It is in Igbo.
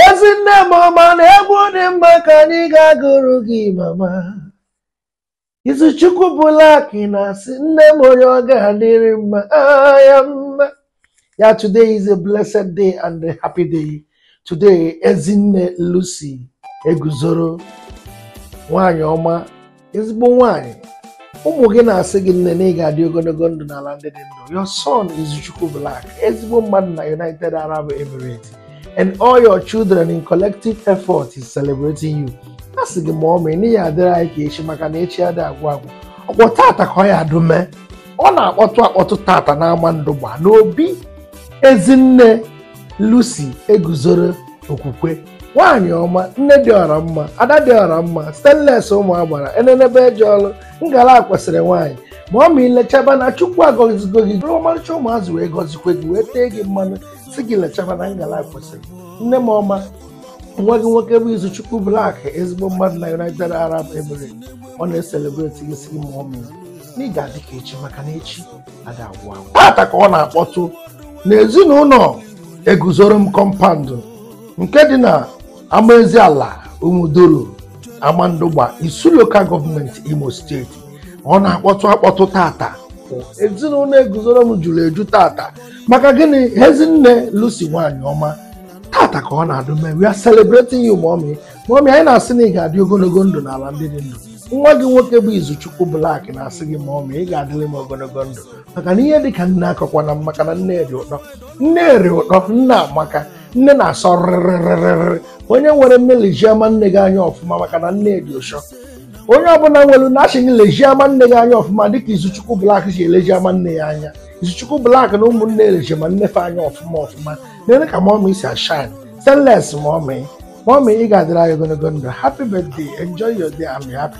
ezi nne m ọma na egwu dị mma ka anyị ga-agụrụ gị mama izuchukwu black na-asị nne m onye ọ ga-adịrị mma ah, ya mma ya today is a blessed day and a happy day today ezinne lucy eguzoro nwanyị ọma ezigbo nwaanyị ụmụ gị na-asị gị nne na ị ga-adị ogologo ndụ n'ala ndị dị ndụ your son Izuchukwu Black ezigbo mmadụ na United Arab Emirates and all your children in collective effort is celebrating you a sị gị mọmị na ị ya-adịrị anyị ka echi maka na echi adị agwụ agwụ ọ bụ tata ka ọ ya adụ mee ọ na-akpọtụ akpọtụ tata n'amandụgba n'obi ezinne Lucy eguzoro okwukwe nwaanyị ọma nne dị ọra mma ada dị ọra mma stainless ụmụ agbara enenebe eje ọlụ ngala kwesịrị nwaanyị mọmị lechaba na chukwu agọzigo gị buru ọmarịcha ụmụazị wee gọzikwe gị wee tee gị mmanụ sị gị lechaba na ngala kwesịrị nne m ọma nwa gị nwoke bụ izuchukwu black ezigbo mmadụ na united arab emirates ọ na-eselebreti gị sị gị mọmị na ị ga-adị ka echi maka na echi ada agwụ agwụ tata ka ọ na-akpọtụ n'ezinụlọ eguzoro m compound nke dị na amaezi ala umuduru amandụgba isu local government imo state ọ na-akpọtụ akpọtụ tata ezinụlọ eguzoro m juru eju tata maka gịnị ezinne lucy nwanyị ọma tata ka ọ na-adụ mee we are celebrating you mọmị mọmị anyị na-asị na ị ga-adị ogologo ndụ n'ala ndị dị ndụ nwa gị nwoke bụ izuchukwu black na-asị gị mọmị ị ga-adịrị m ogologo ndụ maka na ihe dị ka nne akọkwana m maka na nne dị ụtọ nne dị ụtọ nne amaka nne na-asọ rịrịrịrịrị onye nwere nne lejie ama nne gị anya ọfụma maka na nne dị ụsọ onye ọbụla nwere nne a sị gị lejie ama nne gị anya ọfụma dịka izuchukwu black ji eleji ama nne ya anya izuchukwu black na ụmụnne eleji ama nne fa anya ọfụma ọfụma nene ka mọmị si ashine stainless mọmị mọmị ị ga-adịrị anyị ogologo ndụ happy birthday enjoy your day I'm happy